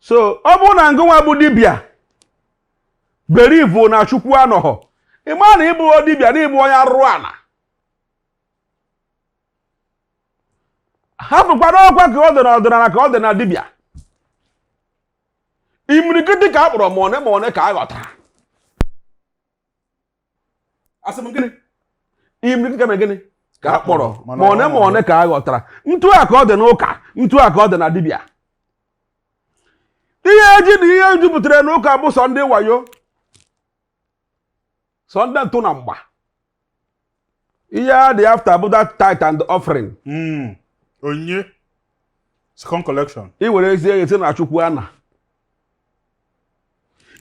so ọ bụrụ na ngụnwa bụ dibịa believe na chukwu anọghọ ị ma na ị bụ dibịa na ị bụ onye arụrụ ala hapụkwa n'ọkwa ka ọ dị na ọdịnala ka ọ dị na dibịa imirikiti ka a kpọrọ ma one ma one ka a họtara asị m gịnị imirikiti ka e mere gịnị ka a kpọrọ ma one ma one ka a họtara ntu a ka ọ dị n'ụka ntu a ka ọ dị na dibịa ihe eji na ihe jupụtara n'ụka bụ sọ ndị wayo sọ ndị ntụ na mgba ihe ha dị after bụ that tithe and offering hmm. onyinye second collection i were ezi eghe sị na chukwu ana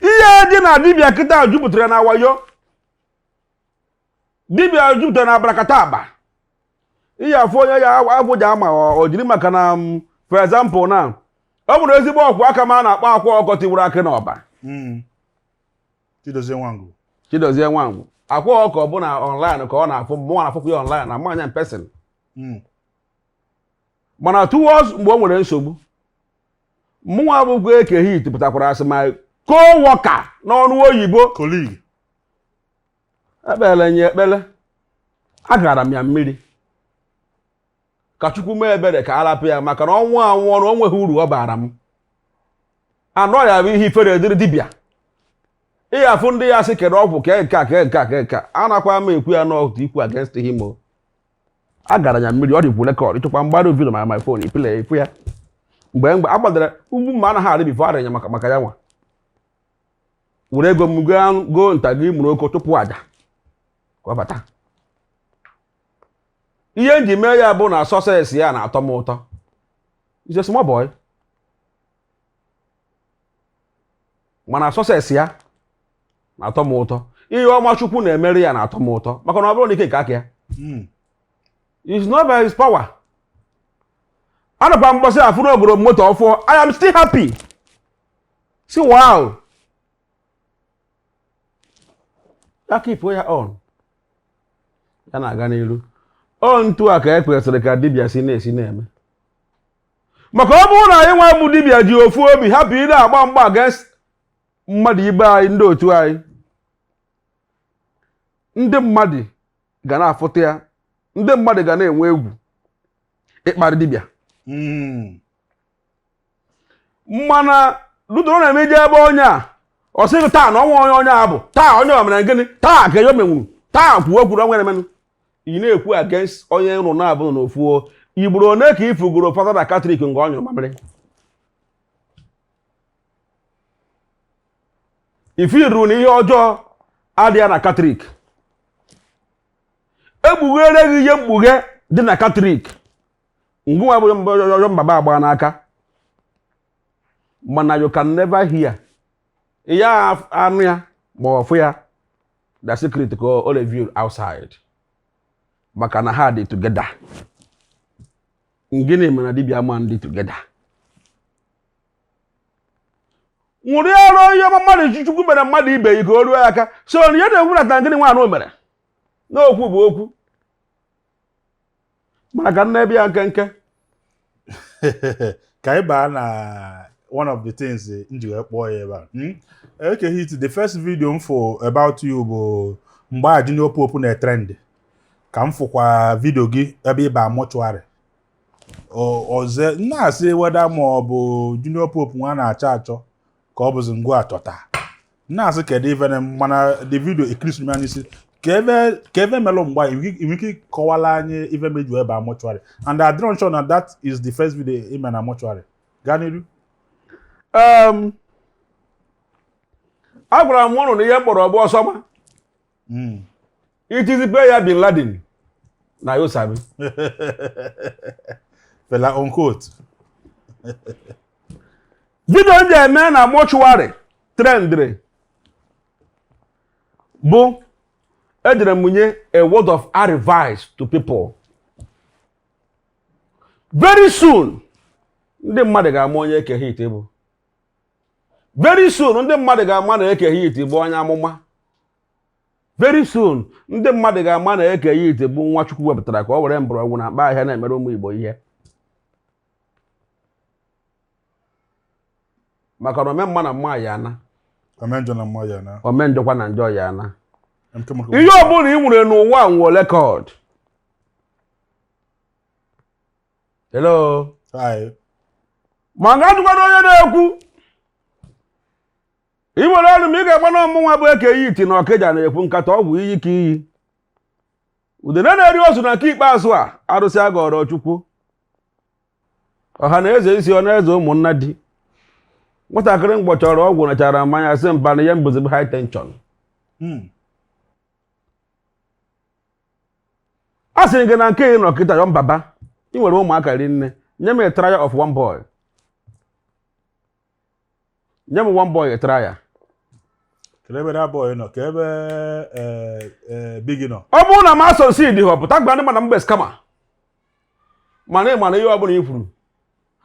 ihe dị na dibịa kịta jupụtara na wayo dibịa jupụtara na abrakatabra ihe afọ onye ya afọ ji ama o jiri maka na mm, for example na ọ nwere ezigbo ọkwụ aka m a na-akpọ akwa ọkụkọ tiwara akị n'Ọba hmm. Chidozie Nwangwu Chidozie Nwangwu akwa ọkụkọ bụ na online ka ọ na-afụ mụ na-afụkwa ya online na m ma ya in person hmm. mana towards mgbe o nwere nsogbu mụnwa bụkwa Eke Hit pụtakwara sị my co-worker n'ọrụ oyibo colleague ekpere m ya ekpere agara m ya mmiri ka chukwu mee ebere ka a rapụ ya maka na ọ nwụọ anwụ ọnwụ o nweghị uru ọ bara m na ọ ya-abụ ihe ifere dịrị dibịa ị ya-afụ ndị ya-asị kedụ ọgwụ kee nke a kee nke a kee nke a anakwa m ekwu ya na ọ bụ ikwu against him o agara m ya mmiri ọ dịkwu record ị chọkwa m gbara video na my phone ị play ị fụ ya mgbe mgbe a gbadara ugwu mma anaghị arị before arịọ ya maka maka ya nwa were ego m goo nta gị mụrụ oko chụpụ aja ka ọ bata ihe m ji mee ya bụ na success ya na-atọ m ụtọ he's a small boy mana success ya na-atọ m ụtọ ihe ọma chukwu na-emere ya na-atọ m ụtọ maka na ọ bụrọ n'ike nke aka ya hmm. it's not by his power anụkwa m mbọsị afụ na o goro moto ọfụụ I am still happy sị wow ya keep ya on ya na-aga n'iru ọ ntu a ka e kwesịrị ka dibịa si na-esi na-eme maka ọ bụrụ na anyị nwa bụ dibịa ji ofu obi hapụ ị na-agba mgba against mmadụ ibe anyị ndị otu anyị ndị mmadụ ga na-afụta ya ndị mmadụ ga na-enwe egwu ịkparị dibịa hmm. mana lutero na-eme ị je ebe onye a ọ sị gị taa na ọnwa onye onye a bụ taa onye o mere gịnị taa ka ya menwuru taa kwuo kwuru ọnwa emenụ ị na-ekwu against onye ụnụ na-abụ n'ofu ugboro one ka ị fụgoro fada na katọlik nga ọ nyụrụ mamịrị ife iru na ihe ọjọọ adịghị na katọlik e kpughere gị ihe mkpughe dị na katọlik gịnwa bụ ọjọọ mbaba agba n'aka mana you can never hear ya anụ ya ma ọfụ ya the secret ka o reveal outside maka na ha dị together gịnị mere na dibịa ama-adị together ṅụrịara ihe ọma mmadụ ji chukwu mere mmadụ ibe yi ka o ruo ya aka so na ihe na-ekwu na gịnị nwaanyị o mere n'okwu bụ okwu mana ka m na-ebi ya nkenke ka ị baa na one of the things eh, m ji wee kpọọ ya ebe a hmm? Eke Hit the first video m fụ about you bụ mgbe a junior pope na-etrend ka m fụkwa vidio gị ebe ị ba mortuary ọzọ na-asị whether ma ọ bụ junior pope nwa na-achọ achọ ka ọ bụzi gịnwa achọta na-asị kedu ife na mana the video ekirisi anya isi ka ebe ka ebe melụ mgba ị nwe ike ịkọwala anyị ife meju ebe a mortuary and I don't sure na that is the first video i me na mortuary gaa n'iru Em, agwara m ụnụ na ihe m kpọrọ bụ Osama Mm. itizi pe ya bin laden na you sabi fela unquote vidio m je mee na mortuary trendịrị bụ ejere m nye a word of advice to people very soon ndị mmadụ ga-ama onye Eke Hit bụ very soon ndị mmadụ ga-ama na Eke Hit bụ onye amụma very soon ndị mmadụ ga-ama na Eke Hit bụ nwa Chukwu wepụtara ka ọ were mgbọrọgwụ na mkpa ahịhịa na-emere ụmụ Igbo ihe maka na ome mma na mma ya ana ome njọkwa na njọ ya ana ihe ọ bụla ị nwere n'ụwa nwere record hello a ga-ajụkwanụ onye na-ekwu i were olu m ị ga-agba na ọ mụnwa bụ Eke Hit na Okija na-ekwu nkata ọgwụ iyi ka iyi udene na-eri ozu na nke ikpeazụ a arụsị a gọrọ chukwu ọha na eze isi ọ na eze ụmụnna di nwatakịrị mgbọchọrọ ọgwụ nachara mmanya sị mba na ihe m bụzi bụ high tension Hmm. a sịrị gị na nke ị nọ kịta yọ mbaba ị nwere ụmụaka rinne nye m a trial of one boy nye m one boy try ya Kedu ebe that boy nọ? Kee ebe eh, eh, Biggie nọ? ọ bụrụ na m a-succeedighị pụta gwa ndị mmadụ na m bụ scammer mana ị ma na ihe ọ bụla i kwuru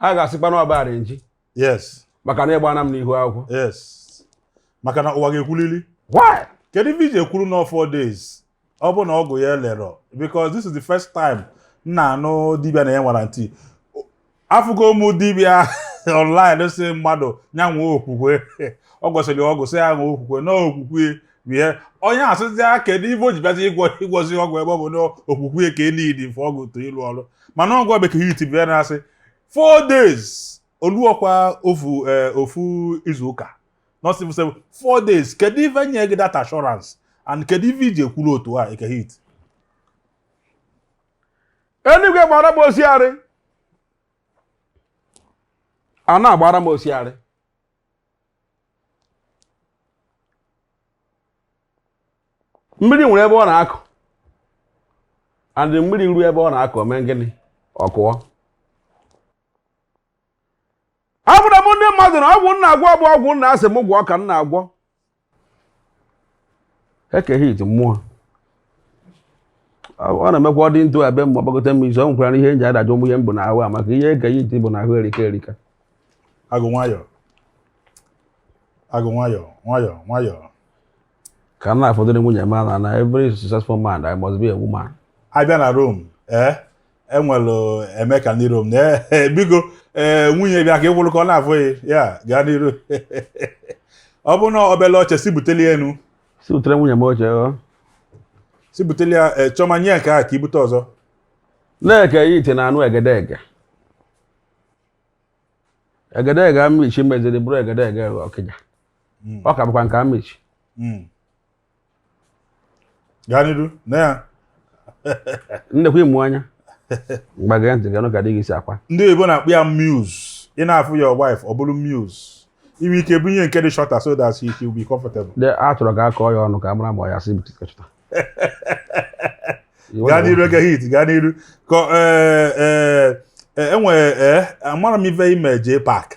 ha ga-asịkwa na ọ bụ arrangee Yes, maka na ịgbana m n'ihu akwụkwọ yes. Maka na ụwa ga-ekwulili. why Kedu ife i ji ekwuru na four days ọ bụ na ọgwụ ya elerọ because this is the first time m na-anụ dibịa na-enye warranty afụgo m dibịa online sị mmadụ ya nwee okwukwe ọ gwọsịrị ya ọgwụ sị ya nwee okwukwe na okwukwe bie onye asịzi ya kedu ife o ji bịazi ịgwọ ịgwọzi ọgwụ ebe ọ bụ na okwukwe ka e needi for ọgwụ to ịlụ ọrụ mana ọgwụ Eke Hit bịa na-asị four days o luọkwa ofu eh, ofu izu ụka not civil service four days kedu ife nye gị that assurance and kedu ife i ji ekwuru otu a Eke Hit enigwe gbara m osiarị ana gbara m osiarị mmiri nwere ebe ọ na-akụ and mmiri ruo ebe ọ na-akụ mee gịnị ọ kụọ agwara m ndị mmadụ na ọgwụ m na-agwọ bụ ọgwụ nna sị m gwọọ ka m na-agwọ Eke Hit mmụọ ọ na-emekwa ọ dị ntụ ebe mgbe ọgbagote m izu ọ nwekwara na ihe nji adajụ ụmụ ihe m bụ n'aha maka ihe Eke Hit bụ n'aha erika erika agụọ nwayọọ agụọ nwayọọ nwayọọ nwayọọ ka m na-afọdụrụ nwunye m na na every successful man there must be a woman a bịa na Rome ee e were eme ka ndị Rome na eh, eh, biko ee eh, nwunye bịa ka ị kwụrụ ka ọ na-afụ gị ya gaa n'iru ọ bụ na obele oche sị butelụ nụ sị butere nwunye m oche oh. sị butelụ ya Chiọma nye nke a ka i bute ọzọ na Eke Hit na-anụ egedege egedege Amichi meziri bụrụ egedege Ọkịja hmm. ọ ka bụkwa nke Amichi hmm. gaa n'iru na ya nnekwa ịmụ anya mgbagara ntị ga ka dị gị si akwa ndị oyibo na-akpọ ya muse ị na-afụ your wife ọ bụrụ muse i nwe ike bunye nke dị shorter so that she will be comfortable. de a chọrọ ka a kọọ ya ọnụ ka a mara ma ọ ya sị bute nke shorter gaa n'iru Eke Hit gaa n'iru enwere e, e, e, amara m ife ime jee park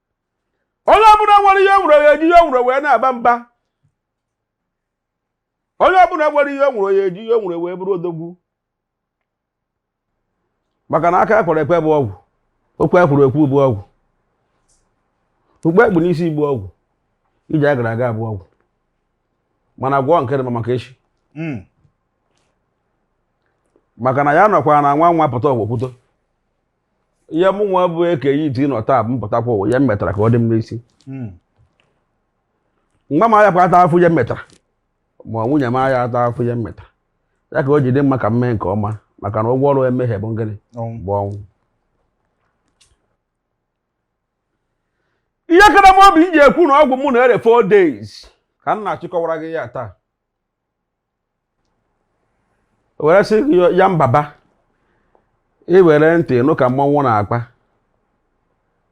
onye ọbụla nwere ihe o nwere ya eji ihe o nwere wee na-aba mba onye ọbụla nwere ihe o nwere ya eji ihe o nwere wee bụrụ odogwu maka na aka ekwere ekwe bụ ọgwụ okwu ekwuru ekwu bụ ọgwụ okpu ekpu n'isi bụ ọgwụ ije agara aga bụ ọgwụ mana gwọọ nke dị mma maka echi hmm. maka na ya nọkwa na nwa nwa pụta ọgwụ kwuto ihe mụ nwa bụ Eke Hit nọ taa m pụtakwa ụwa ihe m metara ka ọ dị m n'isi Hmm. nwa m ayakwa ata afụ ihe m metara ma nwunye m aya ata afụ ihe m metara ya ka o ji dị mma ka m mee nke ọma maka na ụgwọ ọrụ mmehie bụ ngịnị Ọnwụ. bụ ọnwụ ihe kara m obi m ji ekwu na ọgwụ mụ na-ere four days ka m na-achịkọwara gị ya taa were sị ya mbaba i were ntị nụ ka mmọnwụ na-akpa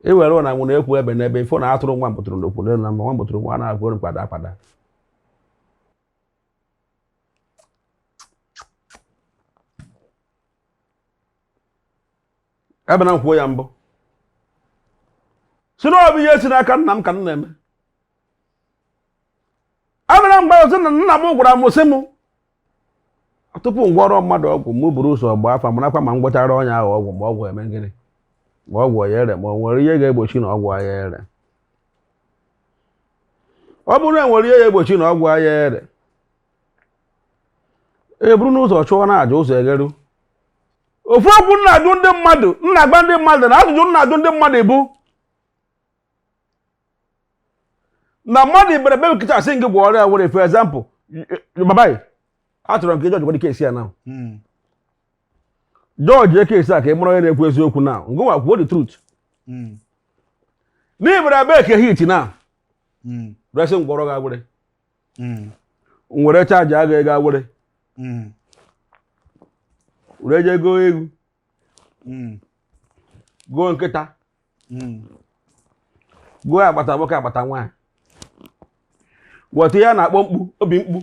i were ụna nwụrụ ekwu ebe n'ebe ifo na atụrụ nwa mbụtụrụ n'okwu n'elu na nwa mbụtụrụ nwa na-agwa oru kwada akwada ebe na nkwuo ya mbụ sị na ọ bụ ihe si n'aka nna m ka m na-eme abịara mgbe ọzọ na nna m gwara m sị m tupu m gwọrọ mmadụ ọgwụ m buru ụzọ gbaa afa marakwa ma m gwọchara onye ahụ ọgwụ ma ọgwụ eme gịnị ma ọgwụ ya ere ma o nwere ihe ga-egbochi na ọgwụ ya ere ọ bụrụ na e nwere ihe ya egbochi na ọgwụ ya ere e buru ụzọ chụọ na aja ụzọ egeru ofu okwu m na-ajụ ndị mmadụ m na-agba ndị mmadụ na ajụjụ m na-ajụ ndị mmadụ bụ na mmadụ ị bịara be Eke Hit asị gị gwọọrọ ya awere for example baba achọrọ m ka ị judge case a na hmm. judge case a ka ị mara onye na-ekwu eziokwu na ngwa kwuo the truth hmm. na ị bịara be Eke Hit na hmm. were sị m gwọrọ gị awere m were charge gị ego were were je goo ewu hmm. goo nkịta hmm. goo agbata nwoke agbata nwaanyị weta ihe a na-akpọ mkpu obi mkpu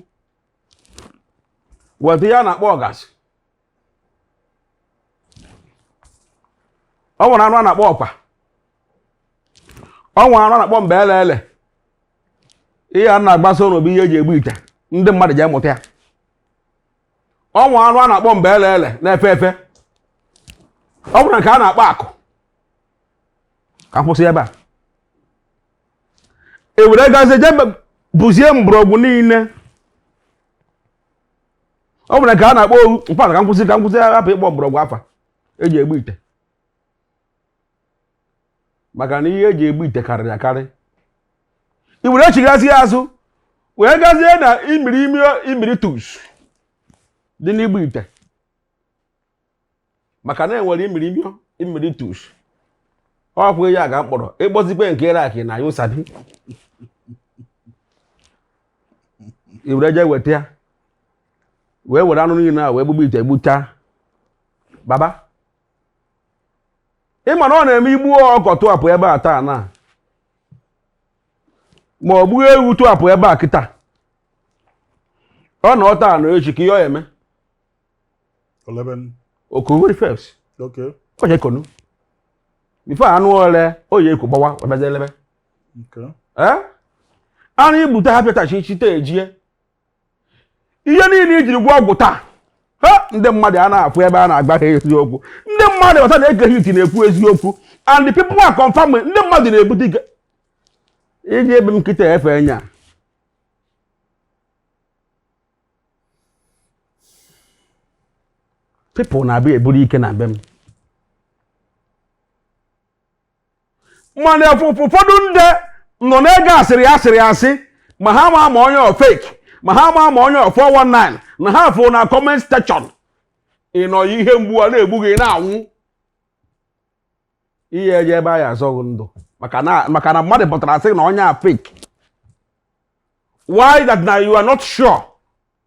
weta ihe a na-akpọ ọgazị o nwere anụ a na-akpọ ọkwa o nwere anụ a na-akpọ mbe ele ele ihe m na-agwazi unu bụ ihe e ji egbu ite ndị mmadụ ji amụta ya o nwere anụ a na-akpọ mbe ele ele na-efe efe o nwere nke a na-akpọ akụ ka m kwụsị ebe a e were gazie je bụzie mgbọrọgwụ niile o nwere nke a na-akpọ ohu mkpata ka m kwụsị hapụ ịkpọ mgbọrọgwụ afa e ji egbu ite maka na ihe e ji egbu ite karịrị akarị i were chighazie azụ wee gazie na imiri imi imiri tus dị n'igbu ite maka na e nwere imiri imi imiri tus ọ kwụghị ya ga mkpọrọ ịkpọzikwe nke iraki na you sabi i were jee weta ya wee were anụ niile a wee gbugbu ite gbuchaa baba ị ma na ọ na-eme igbu ọkụkọ tụapụ ebe a taa na ma o gbuo ewu tụapụ ebe a kịta ọ na ọ taa na echi ka ihe ọ ya eme elebe. o koweri first Okay. ọ ya eko nụ before anụ ole o ya eko gbawaa ọbịazi elebe Okay. ee anụ igbute ha pịatachi chite ejie ihe niile ijiri gwọ ọgwụ taa ha ndị mmadụ a na-afụ ebe a na-agba ha eziokwu ndị mmadụ ghọta na Eke Hit na-ekwu eziokwu and the people are confirming ndị mmadụ na-ebute ike eje be m kịta efe nya people na-abịa eburu ike na be m mana ụfọdụ ndị nọ na-ege asịrị asịrị asị ma ha ma ma onye ọ fake ma ha ma ma onye ọ 419 na ha fụ na comment section ị nọ ihe mgbu a na-egbu gị na-anwụ ihe eje ebe a ya azọ gị ndụ maka na mmadụ pụtara sị na onye a fake why that now you are not sure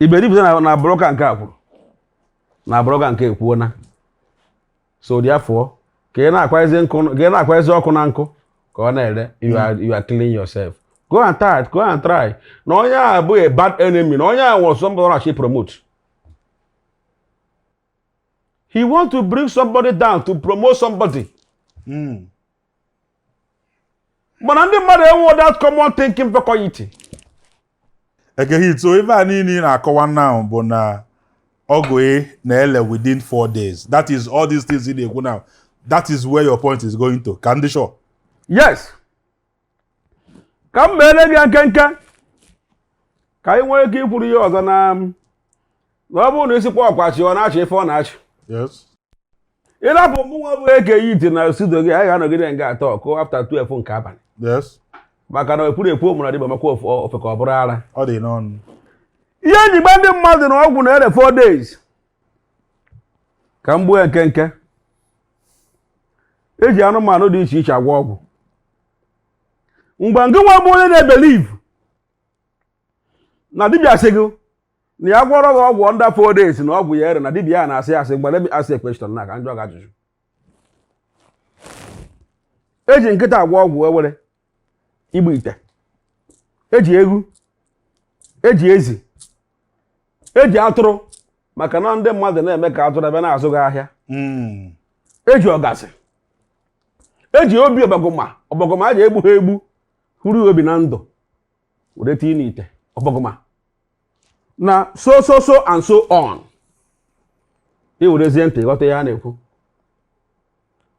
ị believe na blogger nke a kwuru na blogger nke a ekwuona so therefore ka ị na-akwazi nkụ ka ị na-akwazi ọkụ na nkụ ka ọ na-ere you are you are killing yourself go and try go and try na onye a bụ a bad enemy na onye a nwere somebody na-achọ ịpromote he want to bring somebody down to promote somebody Mm. mana ndị mmadụ enwe that common thinking faculty Eke Hit so ife a niile ị na-akọwa now bụ na ọgwụ ị na-ele within four days that is all these things ị na-ekwu now that is where your point is going to ka m dị sure yes ka m meere gị ya nkenke ka anyị nwee ike ikwuru ihe ọzọ na na ọ bụrụ na isikwa ọkwachi ọ na-achị ife ọ na-achị yes ịrapụ mụnwa bụ Eke Hit na studio gị anyị ga-anọgide nga a taa ọ kụọ after 12 nke abalị maka na ekwuru ekwu omụrụ adịba maka ofe ka ọ bụrụ ara ihe eji gba ndị mmadụ na ọgwụ na ere 4 days ka m gbuo nkenke eji anụmanụ dị iche iche agwọ ọgwụ mgbe ngị nwa bụ onye na-ebelieve na dibịa sị gị na ya gwọrọ gị ọgwụ under four days na ọgwụ ya ere na dibịa ya na-asị asị mgbe let me ask a question na ka m jụọ gị ajụjụ eji nkịta agwọ ọgwụ ewere igbu ite eji ewu eji ezi eji atụrụ maka na ndị mmadụ na-eme ka atụrụ bịa na-azụ gị ahịa hmm. eji ọgazị eji obi ọbọgụma ọbọgụma a ji egbu ha egbu họrọ obi na ndụ were tinye n'ite ọbọgụma na so so so and so on ị werezie ntị ghọta ihe a na-ekwu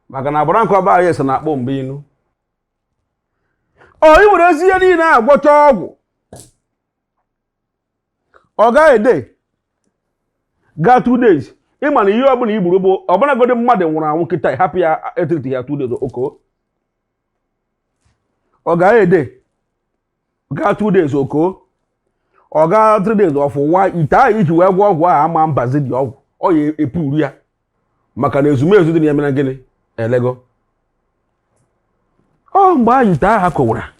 maka na agbara nke ọba anyị so na akpọ mgbe inu ọ ị werezie ihe niile a gwọcha ọgwụ ọ gagide gaa two days ị ma na ihe ọbụla i gburu egbu ọbụlagodi mmadụ nwụrụ anwụ kịta hapụ ya etreat ya two days o koo ọ gagide gaa two days o koo ọ gaa three days ọ fụwa ite ahụ i ji wee gwọọ ọgwụ ahụ ama mbazi dị ọgwụ ọ ya epuru ya maka na ezumezu dị na ya emena gịnị elego ọ mgbe ahụ ite ahụ kowara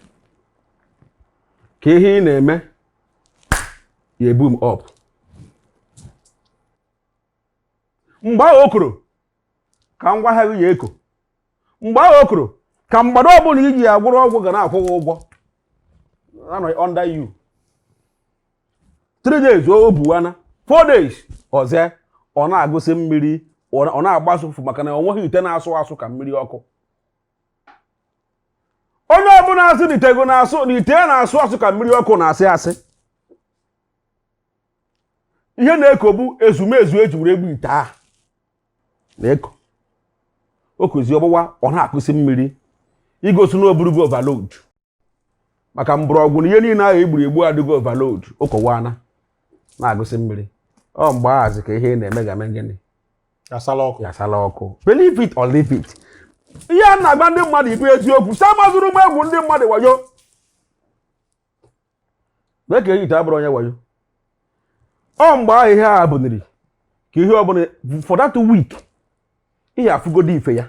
ka ihe ị na-eme ya eboom up mgbe ahụ o koro ka ngwa ahịa ya eko mgbe ahụ o koro ka mmadụ ọbụla i ji ya gwọrọ ọgwụ ga na-akwụ gị ụgwọ anọ under you three days ọ bụwana four days ọzọ ọ na-agụsị mmiri ọ na-agbasị ụfụfụ maka na ọ nweghị ite na-asụ asụ ka mmiri ọkụ onye ọbụla asị na ite na-asụ na ite na-asụ asụ ka mmiri ọkụ na-asị asị ihe na-eko bụ ezumezu eji were egbu ite ahụ na-eko o kozi ọgbụwa ọ na-akụsi mmiri igosi na o burugo overload maka mgbọrọgwụ na ihe niile ahụ egburu egbu adịgo overload o kowana na-agụsi mmiri ọ mgbe ahụzi ka ihe na-eme ga-eme gịnị yasala ọkụ believe it or leave it ihe a na-agwa ndị mmadụ ihe bụ eziokwu sị amazirọ m egwu ndị mmadụ wayo mee ka eyite abụrụ onye wayo ọ mgbe ahụ ihe a bụniri ka ihe ọbụla for that week ihe afụgodu ife ya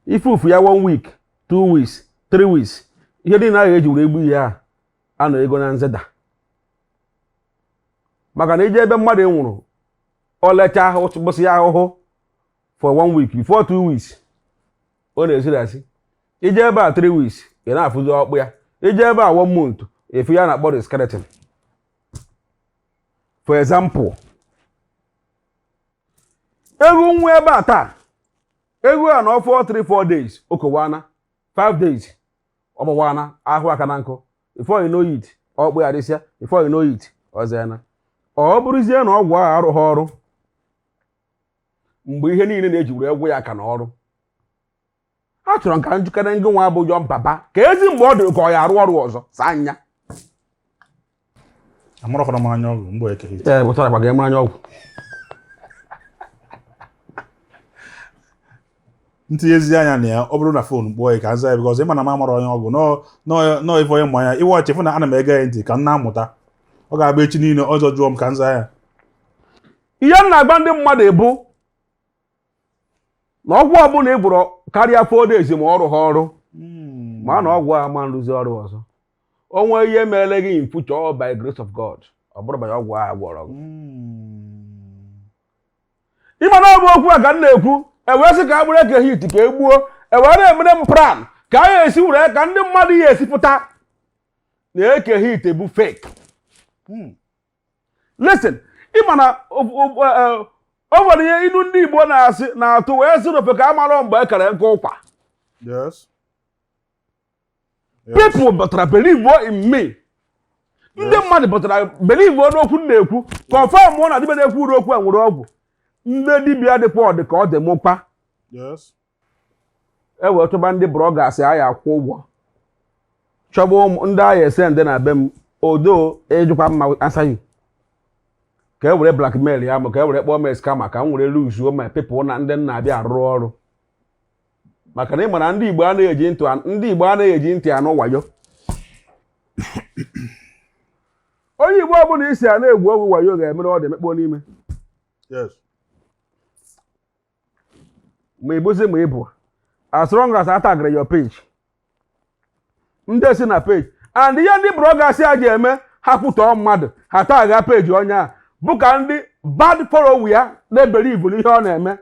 ife ufu ya one week two weeks three weeks ihe dị na ya eji were egbu ihe a anọ ego na-ezeda maka na i jee ebe mmadụ nwụrụ ọ lecha ahụ gbụsị ya ahụhụ for one week before two weeks ọ na-esiri isi i jee ebe a three weeks ị na-afụzi ọkpụ ya i jee ebe a one month ị fụ ihe a na-akpọ skeleton for example eghu nwụọ ebe a taa eghu a nọọ for 3 4 days o kowana 5 days ọ gbawana ahụ aka na nkụ before you know it ọkpụ ya dịsịa before you know it o zena ọ bụrụzie na ọgwụ ahụ arụghị ọrụ mgbe ihe niile na-eji were egwu ya aka na ọrụ a chọrọ nka njikere ngị nwa bụ John Papa ka ezi mgbe ọ dịrị ka ọ ya arụ ọrụ ọzọ saa anya amụrọkwara m anya ọgwụ mgbe Eke Hit pụtara gbaga eme anya ọgwụ m tinyezi anya na ya ọ bụrụ na fon kpọọ ya ka m zaa ya because ị ma na m amara onye ọgwụ nọọ ife onye mmanya iwe ọchị fụ na ana m ege ya ntị ka m na-amụta ọ ga-agba echi niile ọzọ jụọ m ka m zaa ya ihe m na-agwa ndị mmadụ bụ na ọgwụ ọbụla ị gwọrọ karịa four days ma ọ rụhọ ọrụ Hmm. ma na ọgwụ ama arụzi ọrụ ọzọ o nwee ihe meere gị in future by grace of God ọ bụrụ banye ọgwụ a gwọrọ gị Hmm. ị ma na ọ bụ okwu a ka m na-ekwu e wee sị ka e buru Eke Hit ka e gbuo e wee na-emere m plan ka a ga-esi were ka ndị mmadụ ya esi fụta na Eke Hit bụ fake Hmm. listen ị ma na o e, e, nwere ihe inu ndị Igbo na-asị na-atụ wee sị n'ofeke amarọ mgbe e kere nkụ ụkwa people batara believe in me ndị mmadụ batara believe n'okwu m na-ekwu confirmuo na dibịa na-ekwuru okwu a nwere ọgwụ ndị dibịa dịkwa ọ dị ka ọ dị mkpa e wee chọba ndị bloggers a ya akwụ ụgwọ chọba ndị a ya ese ndị na be m odo ejikwa mma asa ahụ ka e were blackmailia m ka e were kpọọ m scammer ka m were luzuo my people na ndị na-abịa arụ ọrụ maka na ị mara ndị igbo anaghị eji ntị ndị igbo anaghị eji ntị anụ wayo onye igbo ọbụla ị sị a na-agwọ ọgwụ wayo ga-emere ọ dị emekpọ n'ime Yes. ma ị bụzi ma ị bụ as long as a tagara your page ndị si na page and ihe ndị bloggers a ji eme ha kwutọọ mmadụ ha taga page onye a bụ ka ndị bad follow ya na-ebelieve n'ihe ọ na-eme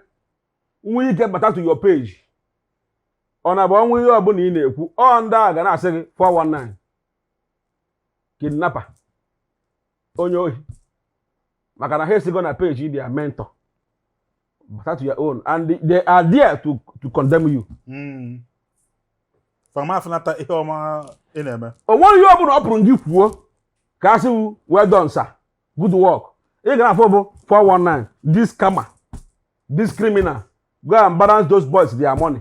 nwee ike bata to your page ọ na-abụ o nwee ihe ọbụla ị na-ekwu ọ ndị a ga na-asị gị 419 kidnapper onye ohi maka na ha esigo na page their mentor bata to your own and they are there to, to condemn you hmm. fa ama afụnata ihe ọma ị na-eme o nweghị ihe ọ bụla ọ pụrụ gị kwuo ka a sị well done sir good work ị ga na-afụ bụ 419 this scammer this criminal go and balance those boys their money